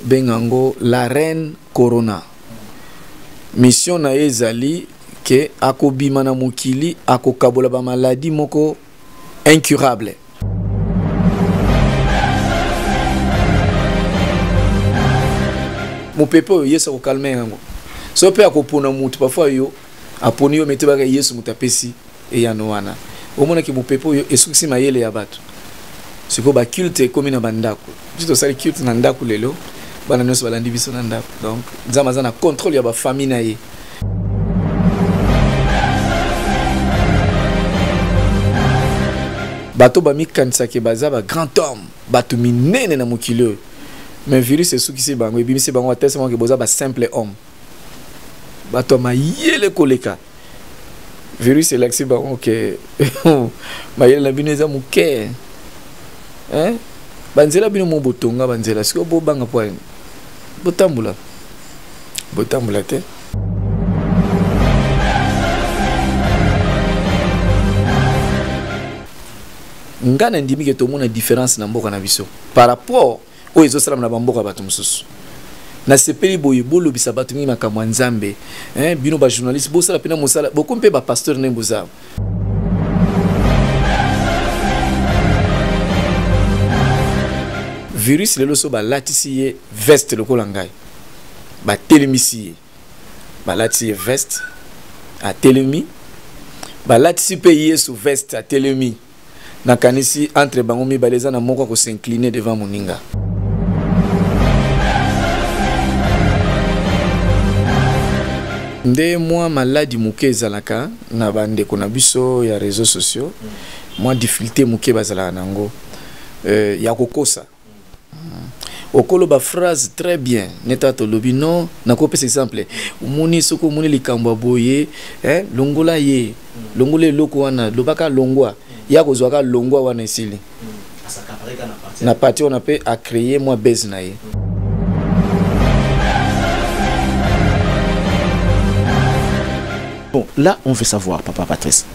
benga ngo la reine corona mission na ye ezali ke akobima na mokili akokabola bamaladi moko incurable mopepe oyo yesu akokalme yango so mpe akopona moto parfois yo aponi yo mete baka yesu moto apesi eyano wana omonaki mopepe oyo esukisi mayele ya bato sikoyo baculte ekomi na bandako biso tosali culte na ndako lelo bana nyonso balandi biso na ndako donc nzambe aza na contrôle ya bafamille na ye bato bamikanisaki baza ba grand homme bato minene na mokili oyo mais virus esukisi bango ebimisi bango atestamaki boza ba simple homme bato ya mayele koleka virus elakisi bango ke mayele na bino eza moke banzela bino mo botonga banzela sikoyo bobanga mpo botambola botambola te ngai nandimi ke tomona différence na mboka na biso par rapport oyo ezosalama na bamboka ya bato mosusu nasepeli boye bolobisa bato mingi makambo ya nzambe eh, bino bajournaliste bosala mpena mosala bokomi mpe bapasteur ndenge bozala virus lelo so balatisi ye veste lokola ngai batelemisi ye balatisi ye veste atelemi balatisi mpe yesu veste atelemi nakanisi entre bango mibale eza na moko akosincline devant moninga nde mwa maladi moke ezalaka na bandeko na biso ya réseau sociaux mwa difficulté moke bazalaka na yango euh, ya kokosa okoloba phrase très bien neta tolobi non nakopesa exemple omoni soki omoni likambo ya boye eh, longola ye longola eloko wana lobaka longwa ye akozwaka longwa wana esili na pati wana mpe acreye mwa base na ye bon là on veut savoir papa patrice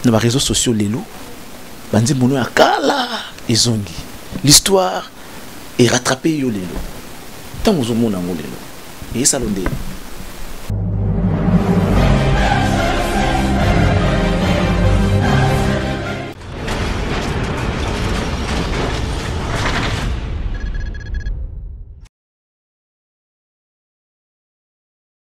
na bareseau sociaux lelo banzembo no ya kala ezongi l'histoire est rattrapée yo lelo ntango ozomona yango lelo eyesalo nde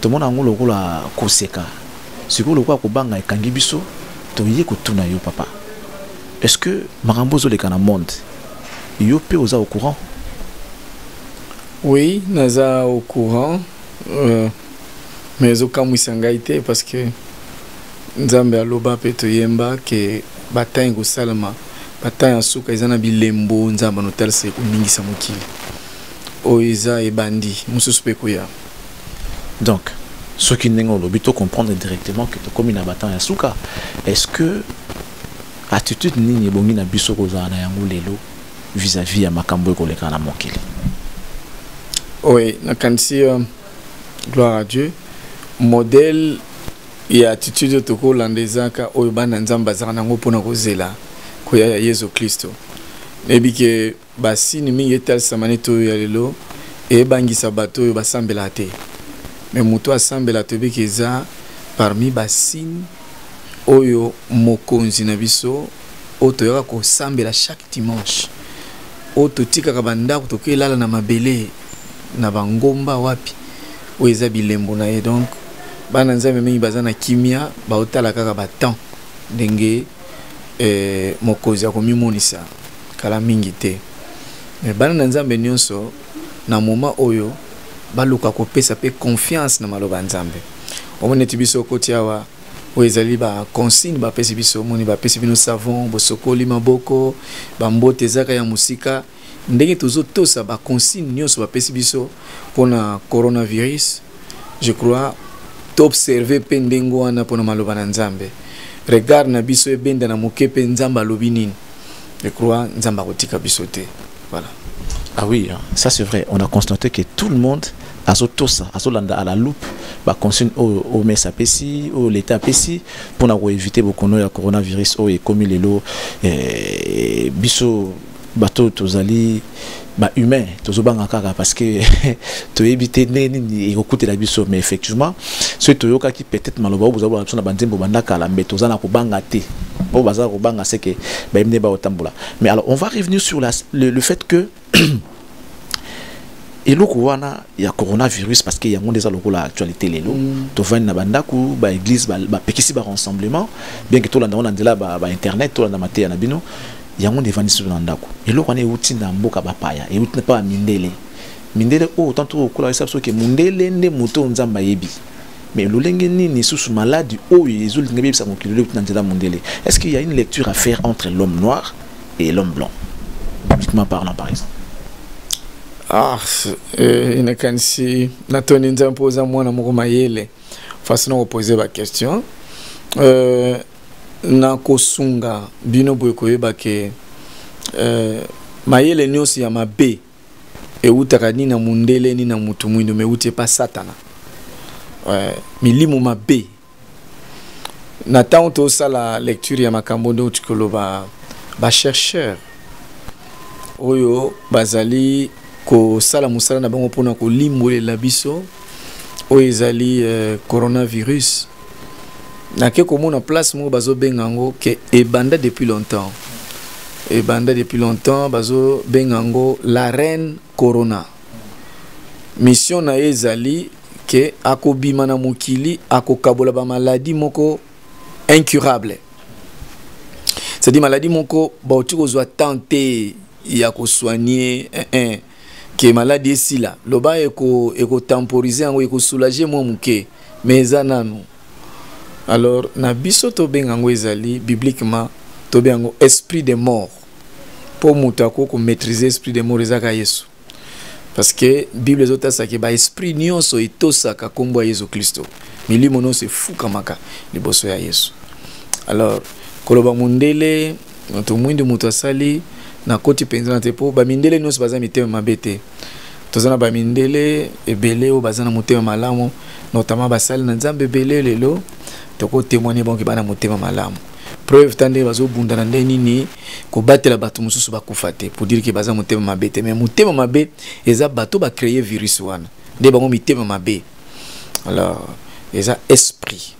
tomona yango lokola koseka sikoyo lokola kobanga ekangi biso toye kotuna yo papa est ce que makambo ozoleka na monde yo mpe oza au courant oui naza au courant euh, mais ezokamwisa ngai te parce que nzambe aloba mpe toyemba ke batangi kosalama batangi ya suka eza na bilembo nzambe anotalisa ekoningisa mokili oyo eza ebandi mosusu mpe koya donc soki ndenge olobi to comprendre directement que tokomi na batemp ya suka est ce que attitude nini ebongi na biso kozala na yango lelo vis-à-vis ya makambo ekoleka na mokili oui nakanisi euh, gloire à dieu modèle ya attitude oyo tokolanda ezaka oyo bana nzambe azalaka nango mpona kozela koya ya yesu kristo nayebi ke Basini mingi etalisama neti oyo ya lelo ebangisa bato oyo basambelaka te me moto asambela toyebi ke eza parmi basini oyo mokonzi na biso oyo toyaka kosambela chaque dimanche oyo totikaka bandako tokoki elala na mabele na bangomba wapi oyo eza bilembo na ye donc bana nzambe mingi baza na kimia baotala kaka batemps ndenge eh, mokozi akomimonisa kala mingi te me bana na nzambe nyonso na moma oyo baluka kopesa mpe confiance na maloba ya nzambe omoni eti biso okoti awa oyo ezali baconsigne bapesi biso omoni bapesi bino savon bosokoli maboko bambote ezaka ya mosika ndenge tozotosa baconsigne nyonso bapesi biso mpona coronavirus je crois toobserve mpe ndenge wana mpona maloba na nzambe regard na biso ebenda na moke mpe nzambe alobi nini je crois nzambe akotika biso te voilà ah oui hein. ça c'est vrai on a constaté que tout le monde azotosa azolanda à la loupe baconsigne oyo omes apesi oyo leta apesi mpona koevite bokono ya coronavirus oyo ekomi lelo eh, biso bato tozali ba humain tozobanga kaka parce que toyebi te nde nini ekokutela biso mais effectivement soki toyokaki peut-être maloba oyo bozabona biso na banzembo banda kala mais toza na kobanga te oyo baza kobanga seke bayebi nde baotambola mais alors on va revenir sur la, le, le fait que eloko wana ya coronavirus parce que yango nde eza lokola actualité lelo mm. tovandi na bandako baeglise bapekisi ba, ba rassemblement bien que tolanda yango na nzela bainternet ba tolanda mateya na bino yango nde evandisi biso na ndako eloko wana euti na mboka bapaya euti na paa mindele mindele oyo tanto okola esa biso ke mondele nde moto oyo nzambe ayebi mais lolenge nini lisusu maladi oyo ezolinga beyebisa mokili leuti na nzela mondele est ce qu'il y a une lecture à faire entre l'homme noir et l'homme blanc bibliquement parlant par exemple ah eh, nakanisi natoni nzambe mpo oza mwana moko mayele façon na kopose baquestion euh, na kosunga bino boye koyeba ke eh, mayele nyonso ya mabe ewutaka ni na mundele ni na mutu mwindo me ewuti epa satana eh, milimu mabe na ntango tosala lecture ya makambo nde outi koloba bachercheur oyo bazali kosala mosala na bango mpona kolimbolela biso oyo ezali eh, coronavirus nake komona place moko bazobenga yango ke ebanda depuis longtemps ebanda depuis longtemps bazobenga yango la reine corona mission na ye ezali ke akobima na mokili akokabola bamaladi moko incurable c'est-à-dire maladi moko bauti kozwa temps te ya kosoigne eh, eh. ke maladi esila loba ekotemporise yango ekosoulage mwa moke me eza nanu alors na biso tobenga yango ezali bibliquement tobenga yango esprit de mort mpo moto akoki komaîtrise esprit de mort ezaka yesu parce que bible ezotasaki baesprit nyonso etosaka nkombo ya yesu kristo milimo nyonso efukamaka liboso ya yesu alors koloba mondele moto mwindu moto asali nakoti mpenza na te mpo bamindele nyonso baza mitema mabe te toza na bamindele ebele oyo baza na motema malamu notamment basali na nzambe ebele lelo tokotemoigne bango bana motema malamu preuve ta ndenge bazobunda na ndenge nini kobatela bato mosusu bakufa te pour dire ke baza motema mabe te mais motema mabe eza bato bacreye virus wana nde bango mitema mabe alors eza esprit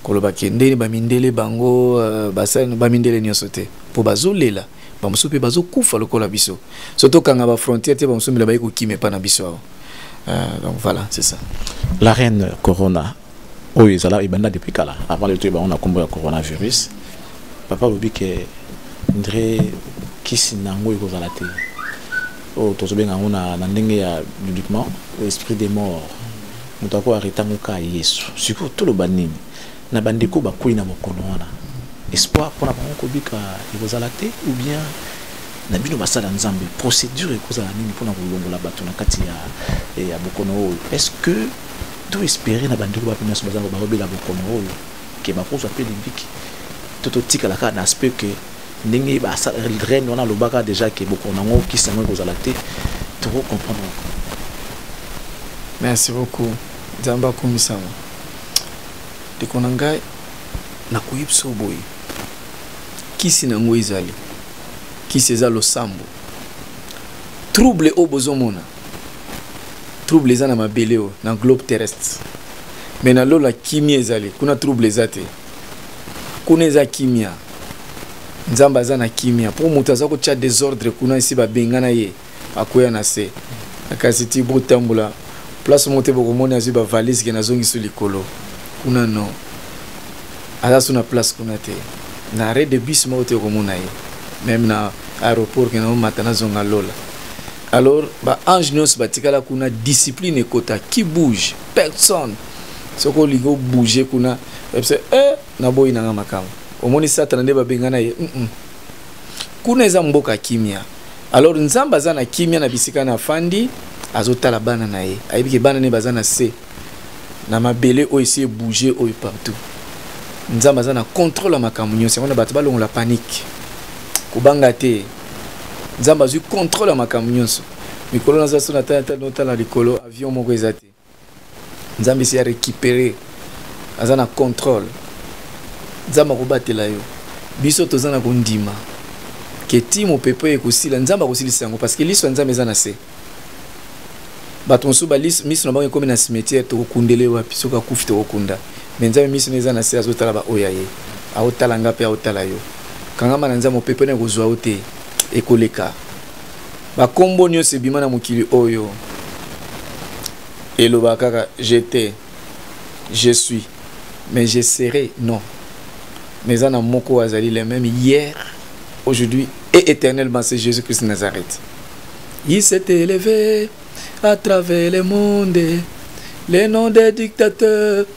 koloba ke ndeni bamindele bango euh, basali bamindele nyonso te mpo bazolela bamosusu mpe bazokufa lokola biso so tokanga bafrontière te bamosusu mbela baye kokima epa na biso awa euh, donc voilà c'est ça la reine corona oyo ezala ebanda depuis kala avant de toyeba bango na nkombo ya coronavirus papa alobi ke ndre kisi na yango ekozala te oyo tozobenga yango na ndenge ya bibliquement esprit des morts moto ako areta ngo kaka yesu sikoyo toloba nini na bandeko bakwei na bokono wana espoir mpona bango kobika ekozala te ou bien na bino basala nzambe procédure ekozala nini mpona kolongola bato na kati ya, eh, ya bokono oyo est ce que to espere na bandeko bape nyonso bazango bakobela bokono oyo ke bakozwa mpe libiki to totikala kaka na aspect ke ndenge ba reine wana alobaka déjà ke bokono yango kisi yango ekozala te toko comprendre merci beaucoup nzambe akumisama ndeko na ngai nakoki biso boye kisi na yango ezali kisi eza losambo trouble oyo bozomona trouble eza na mabele oyo na globe terrestre me na lola kimia ezali kuna trouble eza te kuna eza kimia nzambe aza na kimia mpo moto aza kotya desordre kuna esi babengana ye akwea na se kasi ti botambola place moko te bokomoni azwi bavalise ke nazongiso likolo kuna no aza so na place kuna te na arret de bus moko te okomona ye meme na aéroport ke naomata nazonga lola alors baange nyonso batikala kuna discipline ekota qui bouge personne soki olingi obouge kuna ebisa e eh, naboyi nanga makambo omoni satana nde babengana ye mm -mm. kuna eza mboka kimia alors nzambe aza na kimia na bisika na afandi azotala bana na ye ayebi ke bana ne baza na se na mabele oyo esi ebouge oyo partout nzambe aza na contrôle ya makambo nyonso yango na bato balongola panike kobanga te nzambe azwi contrôle ya makambo nyonso mikolo naza so natala likolo avion moko eza te nzambe esi arecupere aza na contrôle nzambe akobatela yo biso toza na kondima ke ti mopepe ekosila nzambe akosilisa yango parce que liso ya nzambe eza na se bato mosusu miso na bango ekomi na cimetière tokokundele wapi soki akufi tokokunda me nzambe miso na eza na se azotala baoyo ya ye aotala nga mpe aotala yo kangama na nzambe mopepe na ekozwa yo te ekoleka bakombo nyonso ebima na mokili oyo elobaka kaka jete je suis mais je serai non mais eza na moko azali le même hier aujourd'hui et éternellement c'est jésus christ nazareth il s'est élevé à travers le monde les noms des dictateurs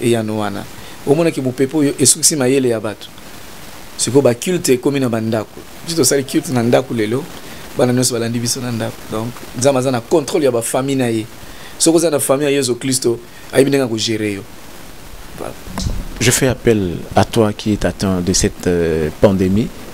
eyano wana omonaki mopepe oyo esukisi mayele ya bato sikoyo baculte ekomi na bandako biso tosali culte na ndako lelo bana nyonso balandi biso na ndako donc nzambe aza na contrôle ya bafamille na ye soki oza na famille ya yesu kristo ayebi ndenge akogere yo je fais appel à toi qui est atteint de cette euh, pandémie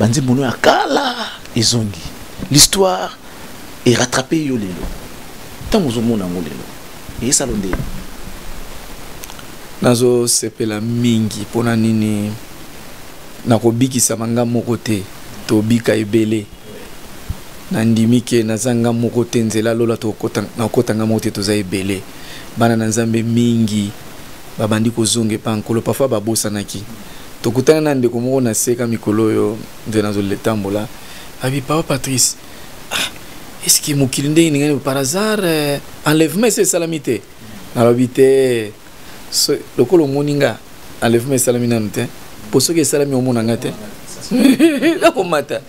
banzembo no ya kala ezongi l'histoire est rattrapée yo lelo ntango ozomona yango lelo eyesalo nde nazosepela mingi mpo na nini nakobikisama nga moko te tobika ebele nandimi ke naza nga moko te nzela lola nakokota nga moko te toza ebele bana na nzambe mingi babandi kozonga epa nkolo parfois babosanaki tokutana na ndeko moko na seka mikolo oyo nde nazoletambola abi papa patrice ah, eske mokili ndenge ningani par hasard eh, enlèvement esi esalami te nalobi te so, lokola omoni nga enlèvement esalami nanu te mpo soki esalami omona nga te akomata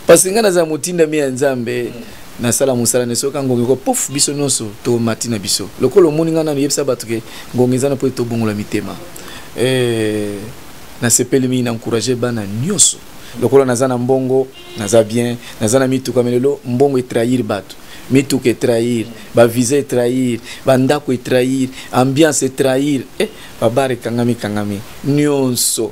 parce que ngai nazala motindami ya nzambe mm. nasala mosala na soki ngonga eko pouf biso nyonso tomati na biso lokola omoni ngai nanu yebisa bato ke ngonga eza na mpo ete tobongola mitema eh, nasepeli mingi na encourage bana nyonso lokola naza na mbongo naza bien naza na mituka me lelo mbongo etrahir bato mituka etrahir bavisa etrahir bandako etrahir ambiance etrahir eh, babare ekangami ekangami nyonso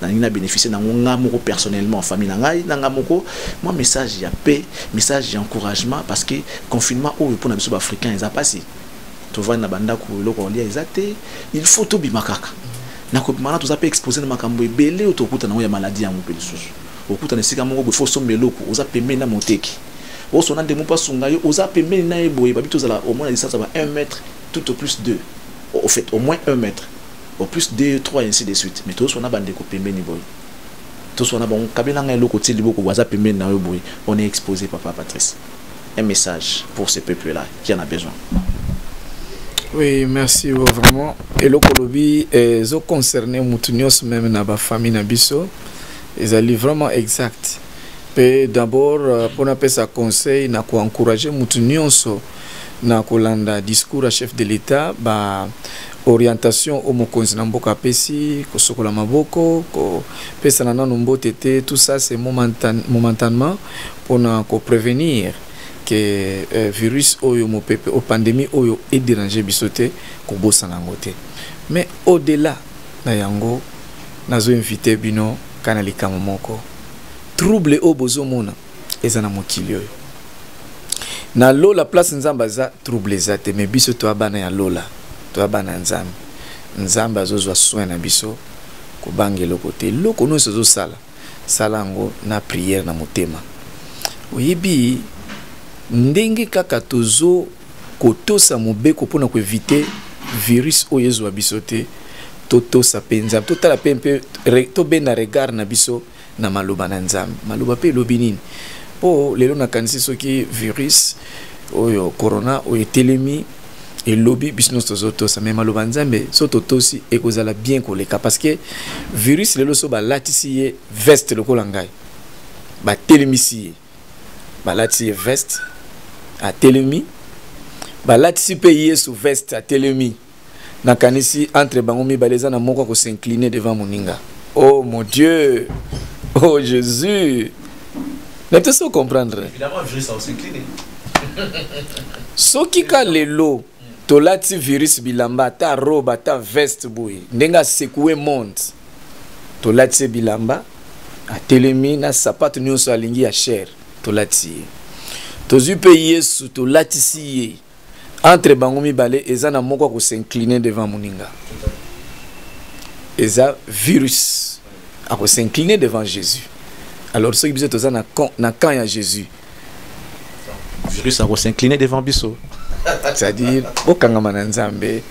nalingi na bénéficier na yango ngai moko personnellement famille na ngai na ngai moko mwa message ya paix message ya encouragement parce que confinement oyo mpo na biso baafricain eza mpasi tovandi na bandako eloko kolia eza te il faut tobima kaka na kobima wana toza mpe expose na makambo ebele oyo tokuta na yango ya maladi yango mpe lisusu okuta na esika moko boye fo osomba eloko oza pembeni na moteki osona ndenge mpo asunga yo oza pembeni na ye boye babi tozala omona distance ya ba 1 mètre tout au plus 2 au fait au moins 1 mètre au plus deux trois ainsi de suite mais tozoswana bandeko pembeni boye toswana bango kabela ngai eloko ti liboko boye aza pembeni na yo boye on est exposé papa patrice un message pour ce peuple là qui en a besoin oui merci oh, vraiment eloko olobi eh, ezo concerne motu nyonso meme na bafamille na biso ezali vraiment exact mpe d'abord euh, mpo napesa conseil na koencourage motu nyonso na kolanda discours ya chef de l'etat ba orientation au mokonzi na mboka apesi kosokola maboko kopesana nano mbote te tout ça c'est momentan, momentanement mpona koprevenir ke euh, virus oyo mopepe o pandémie oyo ederange biso te kobosana yango te mais au delà na yango nazo invite bino kana likambo moko trouble oyo bozomona eza na mokili oyo na lola place nzambe aza trouble eza te mais biso toya bana ya lola toya bana ya nzambe nzambe azozwa soin na biso kobanga eloko te eloko nyonso ezosala sala yango na priere na motema oyebi ndenge kaka tozo kotosa mobeko mpona koevite virus oyo ezwa biso te totosa mpe nzambe totala mpe mpe tobenda regard na biso na maloba na nzambe maloba mpe elobi nini mpo lelo nakanisi soki virus oyo corona oyo etelemi elobi biso nyonso tozotosa me maloba nzambe so totosi ekozala bien koleka parce que virus lelo so balatisi ye veste lokola ngai batelemisi ye balatisi ye veste atelemi balatisi mpe yesu veste atelemi nakanisi entre bango mibale eza na moko akosincline devant moninga oh mon dieu oh jésus na te so comprendre soki ka lelo tolati virus bilamba ata robe ata veste boye ndenge asekoue monde tolati ye bilamba atelemi na sapato nyonso alingi ya chere tolati ye tozwi mpe yesu tolatisi ye entre bango mibale eza na moko ako s'incliner devant muninga eza virus ako s'incliner devant Jésus alors soki biso toza na camp na camp ya Jésus virus ako s'incliner devant biso c'est-à-dire bokangama na Nzambe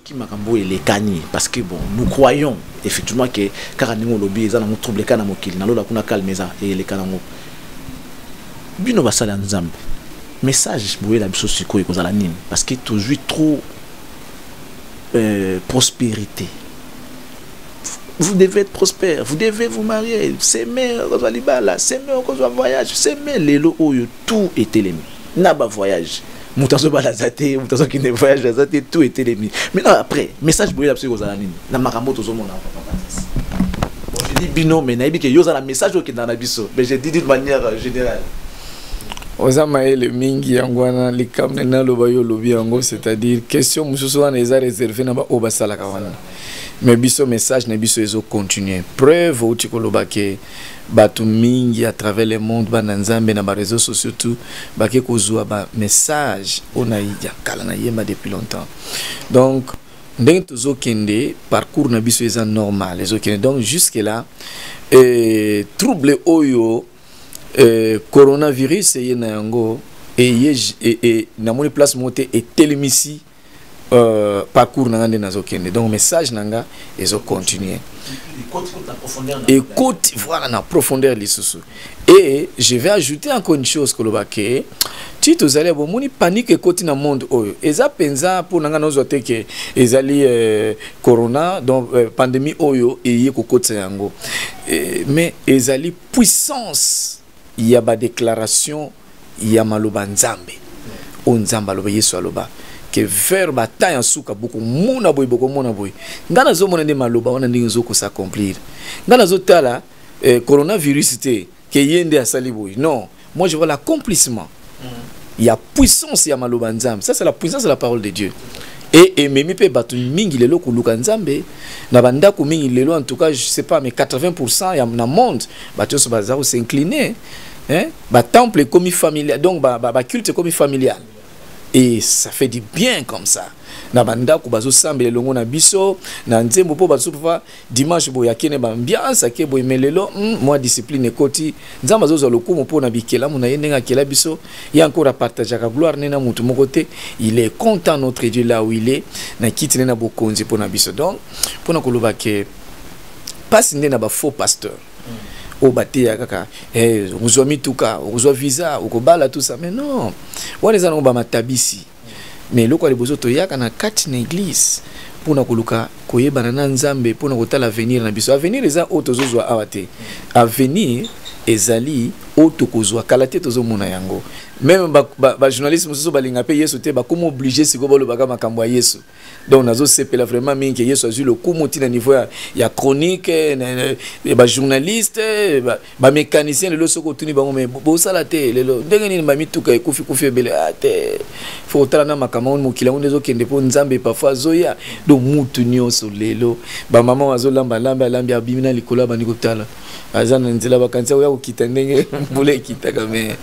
ki makambo elekani parce que bon nous croyons effectivement que kaka ndenge olobi eza nango trouble kaka na mokili na lola kuna calme eza eleka nango bino basali ya nzambe message boyela biso sikoyo ekozala nini parce que tozwi trop euh, prospérité vous devez être prospère vous devez vous marier seme okozwa libala seme okozwa voyage seme lelo oyo tout etelemi na ba voyage moto azobala aza te moto azokende voyage aza te tout etelemi maintenant après message boyela biso ekozala nini na makambo tozomona ojedi bino me nayebi ke yo oza na message okenda na biso mais je dis d'une manière euh, générale oza mayele mingi yango wana likambo nde naloba yo olobi yango c'est-à-dire question mosusu wana eza réserve na baoyo basalaka wana mais biso message na biso ezocontinue preuve outi koloba ke bato mingi à travers le monde bana nzambe na bareseau sociaux tout bake kozwa bamessage oyo na ya kala na yemba depuis longtemps donc ndenge tozokende parcours na biso eza normal ezokende donc jusque là euh, trouble oyo euh, coronavirus eye na yango eye e, e, namoni place moko te etelemisi euh, parcours na nga nde nazokende donc message na nga ezocontinue ekoti voilà na profondeur lisusu et je vais ajouter encore une chose koloba ke ti tozali bomoni panique ekoti na monde oyo eza mpenza mpo na ngai nazwa te ke ezali euh, corona donc euh, pandémie oyo eye kokotisa yango euh, mais ezali puissance ya ba declaration ya maloba nzambe o nzambe aloba yesu aloba ke vers bata ya nsuka bokomona boye bokomona boye ngai nazomona nde maloba wana ndenge ezokosa accomplir ngai nazotala eh, coronavirus te ke ye nde asali boye non moi je vois l'accomplissement Il y a puissance ya maloba nzambe ça c'est la puissance de la parole de dieu et ememi mpe bato mingi lelo koluka nzambe na bandako mingi lelo en tout cas je sais pas mais 80 pourcent ya na monde bato nyonso baza kosincline hein? batemple ekomi familial donc baculte ekomi familial et ça fait du bien comme ça na bandako bazosambela elongo na biso na nzembo mpo bazosusu mpa dimanche boye akende bambiance ake boye me lelo mm, mwa discipline ekoti nzambe azozwa lokumu mpo na bikelamu na ye ndenge akela biso ye encore apartageaka gloire ne na motu moko te il est content notre dieu là où il est na kiti ne na bokonzi mpo na biso donc mpo na koloba ke mpasi nde na bafaux pasteur mm. oyo bateya kaka eh, okozwa mituka okozwa visa okobala tout ça mais non wana eza nango bamatabisi mais eloko ya liboso toyaka na kati na eglise mpona koluka koyebana na nzambe mpona kotala avenir na biso avenir eza oyo tozozwa awa te avenir ezali oyo tokozwa kala te tozomona yango meme bajournaliste ba, ba mosusu balinga mpe yesu te bakoma oblige sikoyo balobaka makambo ya yesu donc nazosepela vraiment mingi ke yesu azwi lokumu ntina niveau ya, ya chronique eh, eh, eh, bajournaliste bamécanicien ba lelo soki otuni bango me bosala te lelo ndenge nini bamituka ekufikufi ebele a ah, te fo kotala na makambo yango mokili yango nde ezokende mpo nzambe parfois azoya donc mutu nyonso lelo bamama oyo azolamba lambi alambi abimi na likolo abandi kotala aza na nzela bakanisa oya kokita ndenge mbula ekitaka mais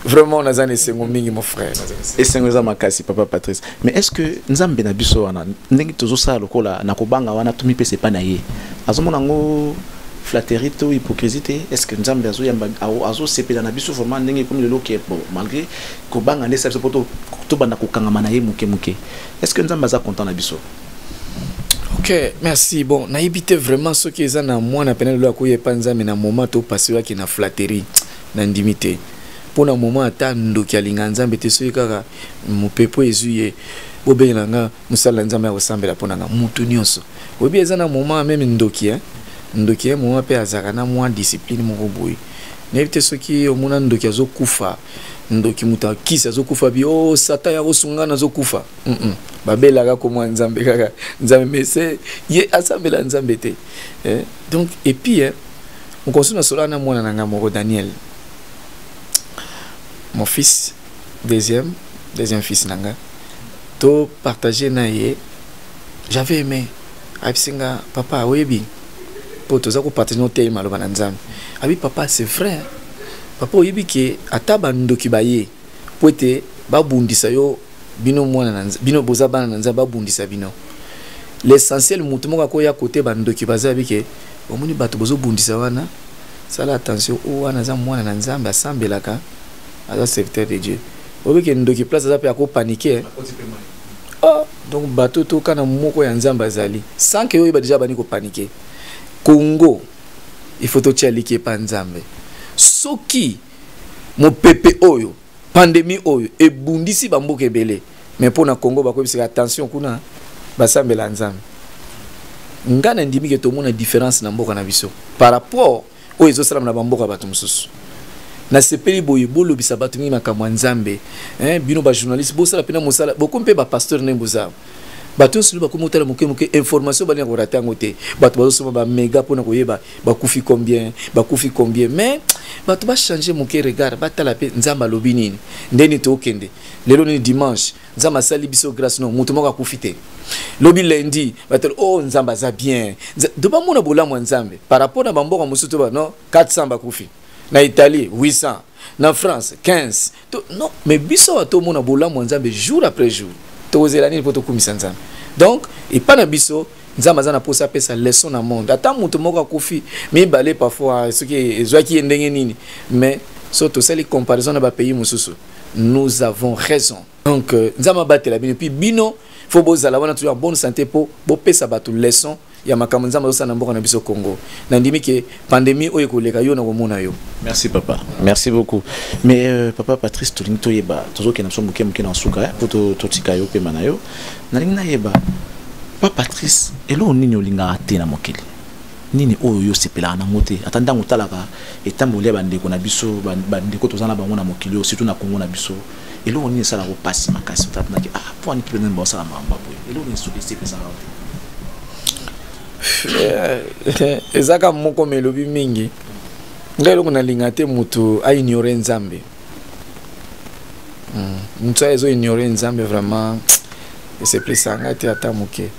vraiment naza na esengo mingi mon frère esengo eza makasi papa patrice mais est ce que nzambe na biso wana ndenge tozosala lokola na kobanga wana tomipesa epai na ye azomona yango flatterie to hypocrisie te est ce que nzambe azoyamba azosepela na biso vraiment ndenge ekomi lelo ke bon malgré kobanga nde esala biso mpo tobanda kokangama na ye moke moke est ce que nzambe aza content na biso ok merci bon nayebi te vraiment soki eza na mwana pene lelo akoya epa nzambe na moment topasiwaki na flatterie nandimi te mpo na moment ata ndoki alinga nzambe te soki kaka mopepo ezwi ye bobengela nga mosala na nzambe ya kosambela mpo na nga motu nyonso oyebi eza na moment meme ndoki eh? ndoki ye eh, moment mpe azalaka na mwa discipline moko boye nayebi te soki omona ndoki azokufa ndoki moto akisi azokufa bi o oh, satan ya kosunga na azokufa mm -mm. babelaka komwa nzambe kaka nzambe mese ye asambela nzambe te eh? donc epuis eh, mokonso nasolaka na mwana na ngai moko daniel mon fils deuxième deuxième fils na ngai to partage na ye j'avais aimé ayebisi nga papa oyebi mpo toza kopartage no tei maloba na nzambe abi papa c'est vrai papa oyebi ke ata bandoki baye mpo ete babundisa yo bino mwana na bino boza bana na nzambe abundisa bino l'essentiel motu moko akoya kote bandoki baza yabi ke omoni bato bozobundisa wana sala attention o wana aza mwana na nzambe asambelaka aza serviteur de dieu oyebi ke ndoki place aza mpe akopanike oh, donc bato toka na moko ya nzambe azali sans ke oyeba deja abandi kopanike congo il faut totya liki epa nzambe soki mopepe oyo pandemi oyo ebundisi bamboka ebele mais mpo na congo bakoyebisaka attention kuna basambela nzambe ngai nandimi ke tomona différence na mboka na biso par rapport oyo ezosalama na bamboka bato mosusu nasepeli boye bolobisa bato mingi makambo ya nzambe eh, bino bajournaliste bosala mpena mosala bokomi mpe bapasteur ndenge bozala bato nyonso nde bakomi kotala moke moke information balinga korata yango te bato bazosoma bamega mpo na koyeba bakufi combien bakufi combien mais bato bachange moke regard batala mpe nzambe alobi nini nde nini tookende lelo nini dimanche nzambe asali biso grâce no moto moko akufi te lobi lundi batala o oh, nzambe aza bien do bamona bolamu ya nzambe par rapport na bamboka mosusu to bano 400 bakufi na italie 800 na france 15 to, non mais biso awa tomona bolamu ya nzambe jour après jour tokozela nini mpo tokumisa nzambe donc epai na biso nzambe aza na mposa apesa leçon na monde ata moto moko akufi mibale parfois soki ezwaki ye ndenge nini mais so tosali comparaison na bapays mosusu nous avons raison donc euh, nzambe abatela bino puis bino fo bozala wana toujours en bonne santé mpo bopesa bato leçon ya makambo nzambe azosala na mboka na biso congo nandimi ke pandemie oyo ekoleka yo nakomona yo merci papa merci beaucoup mais euh, papa patrice tolingi toyeba tozokende biso moke moke na nsuka eh, po totika yo mpema na yo nalingi nayeba pa patrice eloko nini olingaka te na mokili nini oyo yo osepelaka nango te ata ntango otalaka etamboli ya bandeko na biso bandeko toza na bango na mokili oyo surtout na kongo na biso eloko nini esalaka yo mpasi makasi otatunaki ah mpo wani mpe nani baosala makambo boye eloko nini soki esepesaka yo eh, eza kaka moko ma elobi mingi ngai eloko nalinga te moto aignore nzambe hmm. moto ayo ezoignore nzambe vraiment esepelisa ngai te ata moke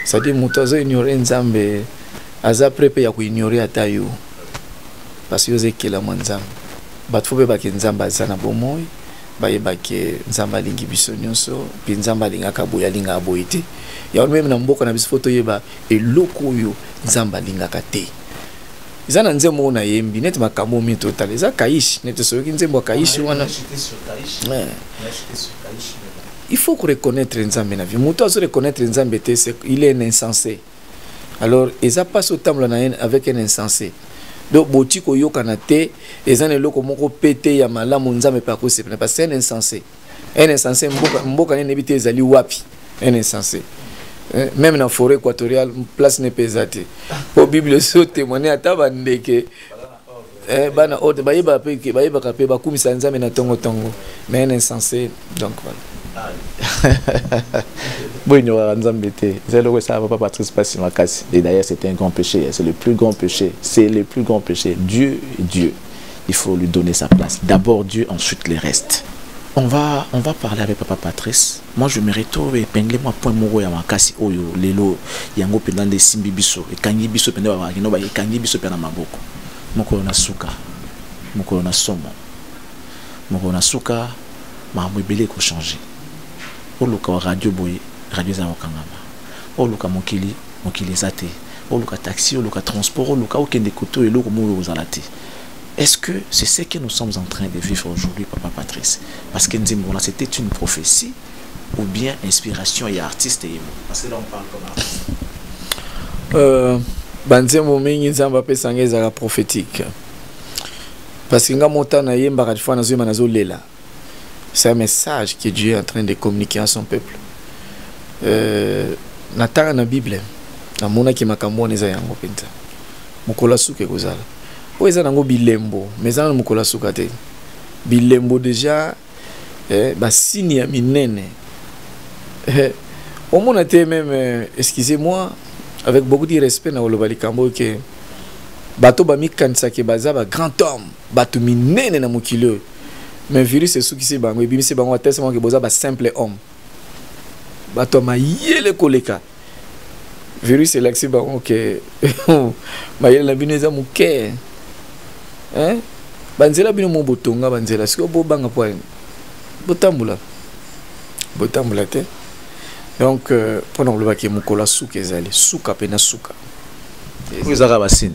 cestadire moto azoignore nzambe aza pre mpe ya koignore ata yo parce que yo oza ekelama nzambe bato fo bayebake nzambe aza na bomoi bayebake nzambe alingi biso nyonso mpe nzambe alingaka boye alingaka boye te yango meme na mboka na biso fo toyeba eloko oyo nzambe alingaka te eza na nzembo oyo nayembi neti makambo oyo mingi totala eza kaishi neti soyoki nzembo ya kaishi wana il faut koreconnaitre nzambe na vie moto azoreconnaitre nzambe te il est insensé alors eza mpasi otambola na ye avec un insensé donc boti koyokana te eza na eloko moko pete ya malamu nzambe mpe akosepela parce que un insensé un insensé mboka, mboka nini eyebi te ezali wapi un insensé eh, même na forêt équatoriale place ne mpe eza te mpo bible ezo témoigne ata bandeke eh, bana oyo bayeba pe ke bayebaka pe bakumisa nzambe na tongo tongo mais un insensé donc voilà boye nyoraka nzambe te eza eloko esala papa patrice pasi makasi et d'ailleurs c'est un grand péché c'est le plus grand péché c'est le plus grand péché dieu est dieu il faut lui donner sa place d'abord dieu ensuite les restes on va on va parler avec papa patrice Moi je mérite to epingle mwa point moko ya makasi oyo lelo yango mpenza nde esimbi biso ekangi biso mpenza babakino ba ekangi biso mpe na maboko mokolo na suka mokolo na somo mokolo na suka makambo ebele ekochange oluka wa radio boye radio eza kokangama oluka mokili mokili eza te oluka taxi oluka transport oluka okende koto eloko moko okozala te Est-ce que c'est ce que nous sommes en train de vivre aujourd'hui, Papa Patrice Parce que Nzimbola, c'était une prophétie ou bien inspiration et artiste et Parce que là, on parle comme artiste. Euh, banzembo mingi nzambe apesanga ezalaka prophétique parce que nga motana yembaka fois nazoyemba nazolela c'est un message que Dieu est en train de communiquer à son peuple euh, na tanga na bible namonaki makambo wana eza yango mpenza mokolo ya suka ekozala oyo eza nango bilembo ma eza na mokolo ya suka te bilembo deja eh, basini ya minene eh, omona te meme euh, excusez moi avec beaucoup de respect na koloba likambo oyo ke bato bamikanisaki baza ba grand homme bato minene na mokili oyo mais virus esukisi bango ebimisi bango atese bango ke boza ba simple homme bato ya mayele koleka virus elakisi bango ke mayele na bino eza moke banzela bino mo botonga banzela sikoyo bobanga mpo ya botambola botambola te donc euh, mpo na kolobaki mokolo ya suka ezali suka mpe na suka oyo ezaka basini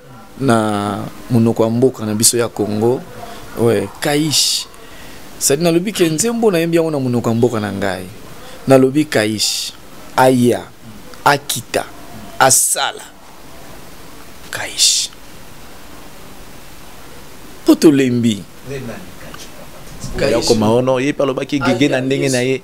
na monoko ya mboka na biso ya congo ouais, kaish sadi nalobi ke nzembo nayembi yango na monoko ya mboka na ngai nalobi kaish aya akita asala kaish mpo tolembi yakoma ono ye mpe alobaki gege na ndenge na ye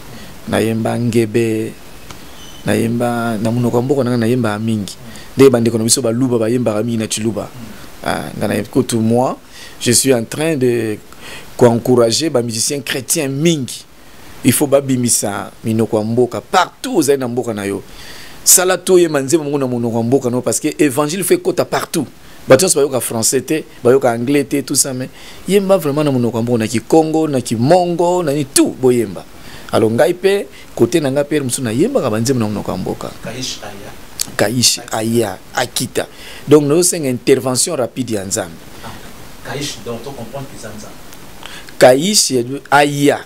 nayemba ngebe nayemba na monoko ya mboka na ngai nayembaka mingi nde bandeko na biso baluba bayembaka mingi na ciluba ah, nga na kutu moi je suis en train de koencourager bamusicien chrétien mingi il faut babimisa minoko ya mboka partout ozali na mboka na yo sala toyemba nzembo moko na monoko ya mboka na yo parce que évangile faut ekota partout bato nyonso bayoka français te bayoka anglais te tout ça mais yemba vraiment na monoko yango na kikongo na kimongo na ni tout boyemba alors ngai pe kote na ngai pe mosusu nayembaka banzembo na monoko ya mboka kaish aya akita donc nazosenga intervention rapide ya nzambe ah, kaish aya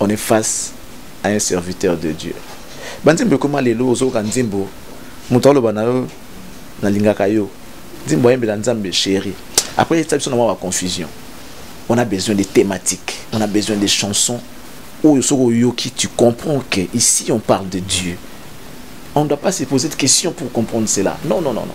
on est face à un serviteur de Dieu banzembo ekoma lelo ozoyoka nzembo moto aloba na yo nalingaka yo nzembo ayembela nzambe chéri après esa biso na mwa baconfusion on a besoin des thématiques on a besoin des chansons oyo soki oyoki tu comprends que ici on parle de dieu on ne doit pas se poser de questions pour comprendre cela non non non non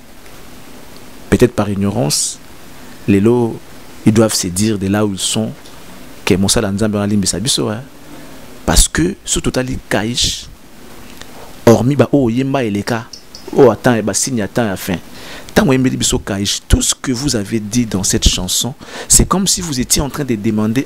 peut-être par ignorance lelo ils doivent se dire de là où ils sont que mosala nzambe wana alimbisa biso hein? parce que soki totali kaish hormis baoyo oyemba eleka oyo oh, atan basigne ya temps ya fin ntango oyembeli biso kaish tout ce que vous avez dit dans cette chanson c'est comme si vous étiez en train de demander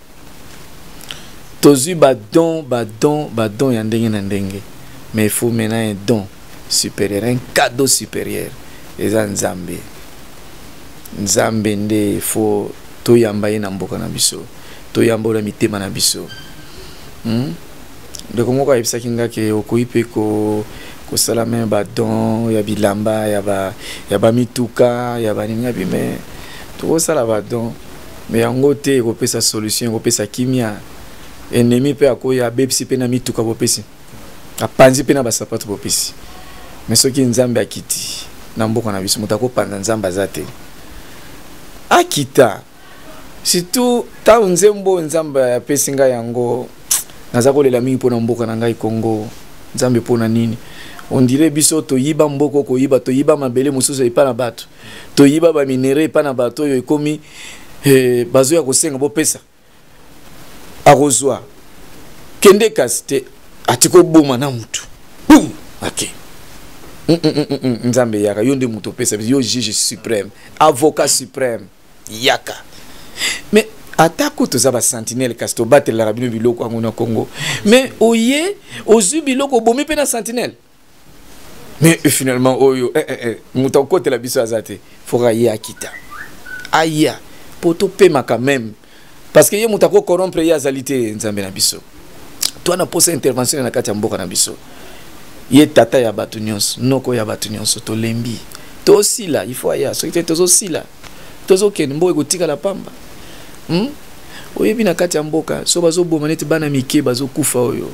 tozwi badon badon badon ya ndenge na ndenge mais il faut maintenant un don supérieur un cadeau supérieur eza nzambe nzambe nde il faut toyamba ye na mboka na biso toyamba oyo na mitema na biso hmm? ndeko moko ayebisaki nga ke okoki mpe ko kosala meme badon ya bilamba ya bamituka ya baninga bime tokosala badon mais yango te ekopesa solution ekopesa kimia ennemi mpe akoyi abebisi mpe na mituka bopesi apanzi mpe na basapato bopesi mais soki nzambe akiti na mboka na biso moto akopanza nzambe aza te akita surtout ntango nzembo oyo nzambe apesi ngai yango naza kolela mingi mpo na mboka na ngai kongo nzambe mpo na nini ondire biso toyiba mboko koyiba toyiba mabele mosusu epa na bato toyiba ba minerais epai na bato oyo ekomi eh, bazoya kosenga bopesa akozwa kende kasi te atika oboma na motu bum ake mm, mm, mm, nzambe yaka yo nde moto opesa yo juge suprême avocat suprême yaka mais atako toza basentinele kasi tobatelelaka bino biloko yango na congo mais oye ozwi biloko obomi mpe na sentinele mais finalement oyo eh, eh, eh, moto akokotela biso aza te foka ye akita aya mpo topemaka meme parce que ye moto akokorompre ye azali te nzambe na biso to na posa intervention na kati ya mboka na biso ye tata ya bato nyonso noko ya bato nyonso tolembi tosila il faut aya soki te tozosila tozokende mboka ekotikala pamba hmm? oyebi na kati ya mboka so bazoboma neti bana mike bazokufa oyo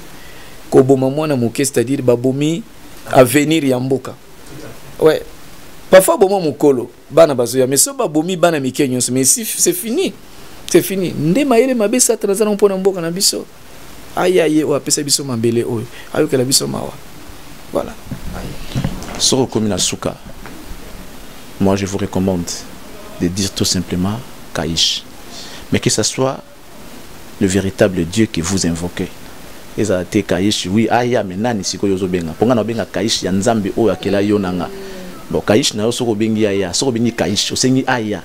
koboma mwana moke c'est-à-dire babomi avenir ya mboka ouais parfois boma mokolo bana bazoya mais so babomi bana mike nyonso mais si c'est fini c'est fini nde mayele mabe satana aza nango mpo na mboka na biso aya ye oyo apesa biso mabele oyo ayokela biso mawa voilà soki okomi na suka moi je vous recommande de dire tout simplement kaish mais que ce soit le véritable dieu que vous invoquez ezala te kaish oui aya me nani sikoyo ozobenga mpo ngai naobenga kaish ya nzambe oyo akela yo na nga bon kaish na yo soki obengi aya soki obengi kaish osengi aya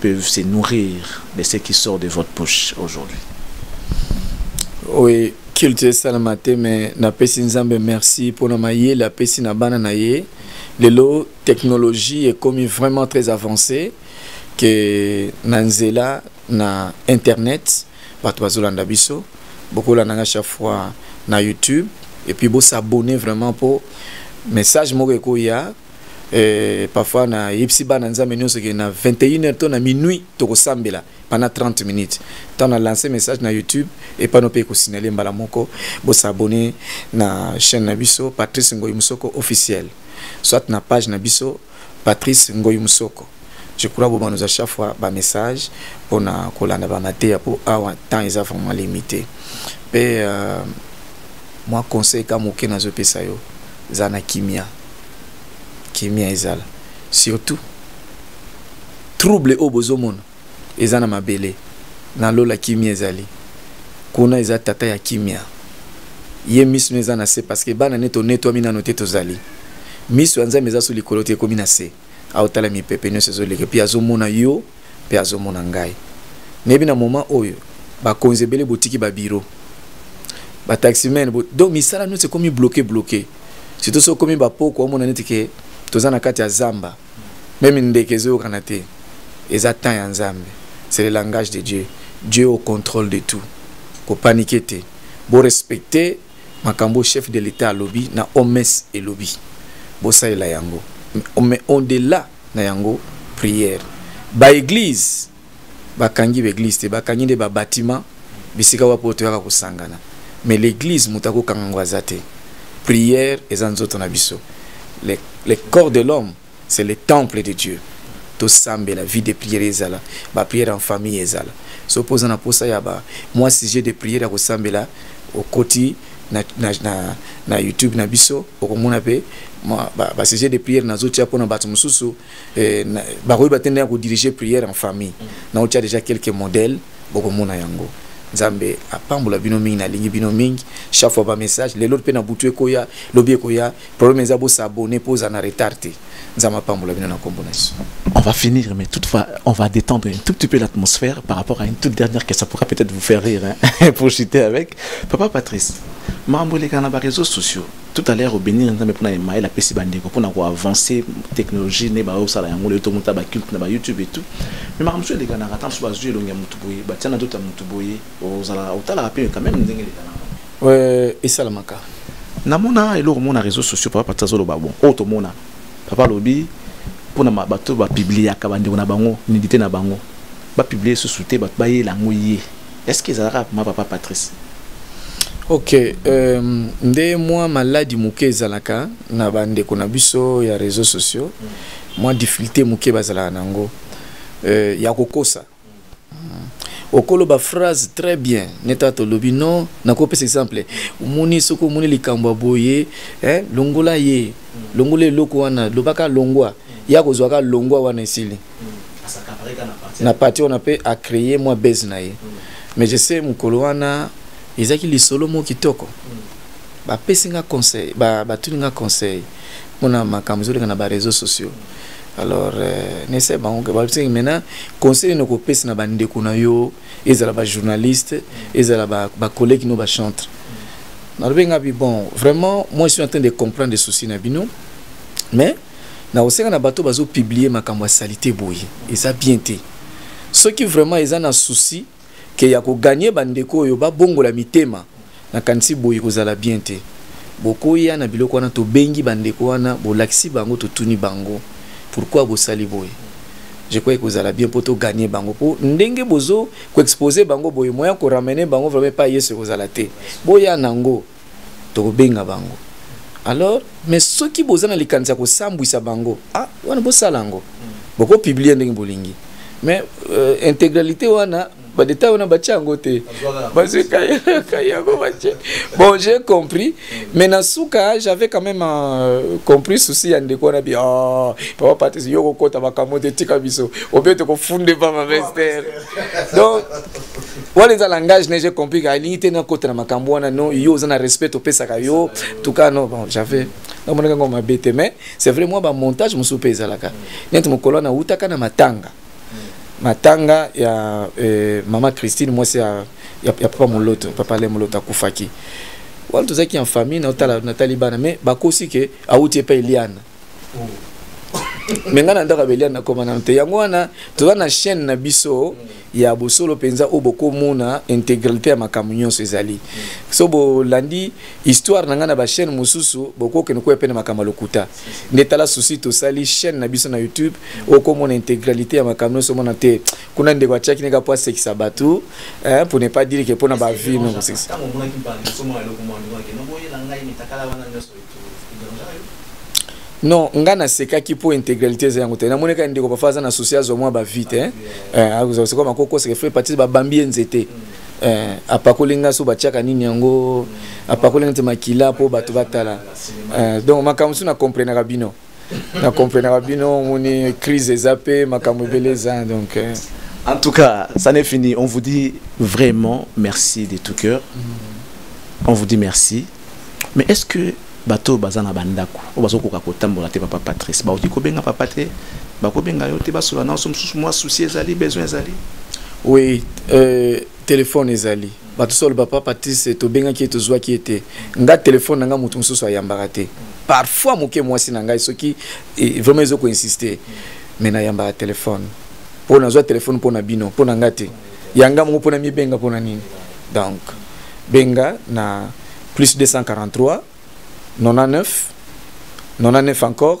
peuvent se nourrir de ce qui sort de votre bouche aujourd'hui. Oui, culte esalama te mais napesi nzambe merci mpona mayele apesi na bana na ye lelo technologie ekomi vraiment très avancée que na nzela na internet bato bazolanda biso bokolanda nga chaque fois na youtube et puis bosabonne vraiment mpo message moko ekoya euh, parfois na yebisi bana nzambe nyonso ke na 21 heures to na minuit tokosambela pendant 30 minutes ntango na lance message na youtube epano mpe ekosignale mbala moko bosabone na chaîne na biso patrice ngoyi mosoko officiel soit na page na biso patrice ngoyi mosoko je crois boma nous à chaque fois ba message pona kolanda ba mateya po awa temps eza vraiment limité pe euh, moi conseil ka moke nazopesa yo eza na kimia kimia ezala surtout trouble oyo bozomona eza na mabele na lola kimia ezali kuna eza tata ya kimia ye miso eza na se parce que bana nde tonetwami nano te tozali miso ya nzambe eza so likolo te ekomi na se aotala mipepe nyonso ezoleka mpe azomona yo mpe azomona ngai nayebi na moment oyo bakonzi ebele botiki babiro bataximen bo, donc misala nyonso ekomi bloke bloke surtout soki okomi bapoko omona neti ke toza na kati ya zamba meme ndeke ezoyokana te eza temps ya nzambe c'est le langage de dieu dieu au contrôle de tout kopanike te borespecte makambo chef de l'etat alobi na oms elobi bosalela yango mais on delà na yango prière baeglize bakangi baeglize te bakangi nde babatima bisika wapi oyo toyaka kosangana mais l'église moto akokanga yango aza te prière eza nzoto na biso le, le corps de l'homme c'est le temple de dieu la vie de prière ezala prière en famille ezala so mpo oza na mposa ya moi sujet de prière ya kosambela okoti na, na, na, na youtube na biso okomona mpe sujet de prière nazotia mpo na bato mosusu eh, bakoki batenda ya dirige prière en famille mm. naotia déjà quelques modèles bokomona yango nzambe apambola bino mingi nalingi bino mingi chaque fois bamessage lelo mpe na butu ekoya lobi ekoya Problème eza bo s'abonner pour en retard te. Nzambe apambola bino na kombo na Yesu. On va finir, mais toutefois, on va détendre un tout petit peu l'atmosphère par rapport à une toute dernière question. Ça pourra peut-être vous faire rire, hein, pour chuter avec. Papa Patrice, mambo les na ba réseaux sociaux. Tout à l'heure, au bénir, nzambe pona email, la pesi bandeko, pona ko avancer technologie, ne ba osala yango, le to muta ba culte na ba YouTube et tout. Mais mambo les gars na ratam sur ba yeux longue mutu boye, ba tiana d'autres mutu boye, ozala otala rapide quand même ndenge les gars. euh, esalamaka namona eloko mona réseau sociaux papa pati azoloba bon oyo tomona papa alobi mpona bato bapibliaka bandeko na bango nidite na bango bapiblie susu te bato bayela yango ye est ce que ezalaka ma papa patrice ok euh, nde mwa maladi moke ezalaka na bandeko na biso ya réseau sociaux mwa difficulté moke bazalaka na yango euh, ya kokosa okoloba phrase très bien neta tolobi non nakopesa exemple omoni soki omoni likambo ya boye eh, longola ye longola eloko wana lobaka longwa ye akozwaka longwa wana esili na parti wana mpe acreye mwa base na ye mais je sais mokolo wana ezalaki lisolo moko kitoko bapesi nga conseil batuni nga conseil mpona makambo ezoleka na bareseau sociaux alors euh, nese bango ke babisaki maintenant conseil nini okopesa na bandeko na yo ezala bajournaliste ezala bacollègue ba no bachantre nalobi nga bi bon vraiment moi je suis en train de comprendre souci na bino mais nakosenga na bato bazopublie makambo ya salite boye eza bien te soki vraiment eza na souci ke ya koganye bandeko oyo babongola mitema nakanisi boye kozala bien te bokoya na biloko wana tobengi bandeko wana bolakisi bango totuni bango pourkui bosali boye je crois ekozala bien mpo toganye bango mpo ndenge bozo koexpose bango boye moya koramene bango vraimen pa yesu ekozala te boya nango tokobenga bango alors mais soki boza na likanisi ya kosambwisa bango ah wana bosala yango bokopiblie ndenge bolingi mais euh, intégralité wana badeta wana batya yango te bazwi kai yango batye bon j'ai compris mais na suka j'avais quand même euh, compris souci ya ndeko wana bi oh, papa patrice yo kokota makambo te tika biso obe tokofunde pama mester donc wana eza langage neige compris ka elingi te nakota na makambo wana no yo oza na respect topesaka yo tuka no bon j'avais namonaka yango mabe te mais c'est vrai mwa bamontage mosusu mpe ezalaka neti mokolo wana awutaka na matanga matanga ya eh, mama christine mwasi ya, ya, ya papa moloto papa le moloto akufaki wana tozalaki en famille natali bana mais bakosi ke awuti epai eliana oh. me ngai na ndako ya beliane nakoma nano te yango wana toza na chaîne na biso mm. ya bosolo mpenza oyo bokomona integralité ya makambo nyonso ezali so bolandi histoire na ngai na bachaîne mosusu bokokende koya mpe na makambo ya lokuta nde tala susi tosali chaîne na biso na youtube okomona integralité ya makambo nyonso omona te kuna ndeko atiaki neka mpo asekisa bato mpo ne pas dire ke mpo na bavie non nga nasekaki mpo intégralité eza yango te namoni kaka ndeko bafa aza na souci azwa mwa bavie te eh, eh, akozala sikoyo makokoseke fre patise babambi ye nzete eh, apakoli nga so batiaka nini yango apakoli nga te makila mpo bato batala donc makambo mosusu na comprenaka bino na comprenaka bino omoni crise eza mpe makambo ebele eza donc euh. en tout cas ça n'est fini on vous dit vraiment merci de tout cœur mm. on vous dit merci mais est ce que bato oyo baza na bandako oyo bazokoka kotambola te papa patrice bakoki kobenga papa te bakobenga yo te basola na oso mosusu mwa souci ezali besoin ezali oui euh, telefone ezali bato solo papa patise tobengaki ye tozwaki ye te nga telefone na nga moto mosusu ayambaka te parfois moke mwasi na ngai soki eh, vraiment ezo koinsiste me nayambaka telefone mpo nazwa telefone mpo na bino mpo na nga te yanga moko mpo na mibenga mpo na nini donc benga na plus 243 99 99 encore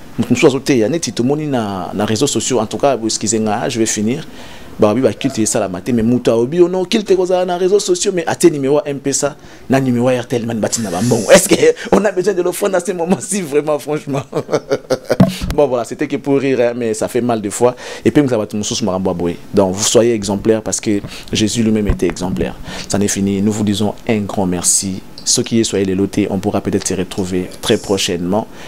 moto mosusu azoteya neti tomoni na, na réseaux sociaux en tout cas boeskize nga je vais finir balobi bakilte esalama te mais moto alobi yo non kilte ekozala na réseaux sociaux mais atie numéro ya mpesa na numéro ya rtl mani batina bambongo est ce que on a besoin de l'offrande à ce moment si vraiment franchement bon voilà c'était que pour rire hein, mais ça fait mal des fois et puis mokisa bato mosusu makambo ya boye donc vous soyez exemplaire parce que jésus lui-même était exemplaire ça n'est fini nous vous disons un grand merci ceux qui soyez les lotés, on pourra peut-être se retrouver très prochainement.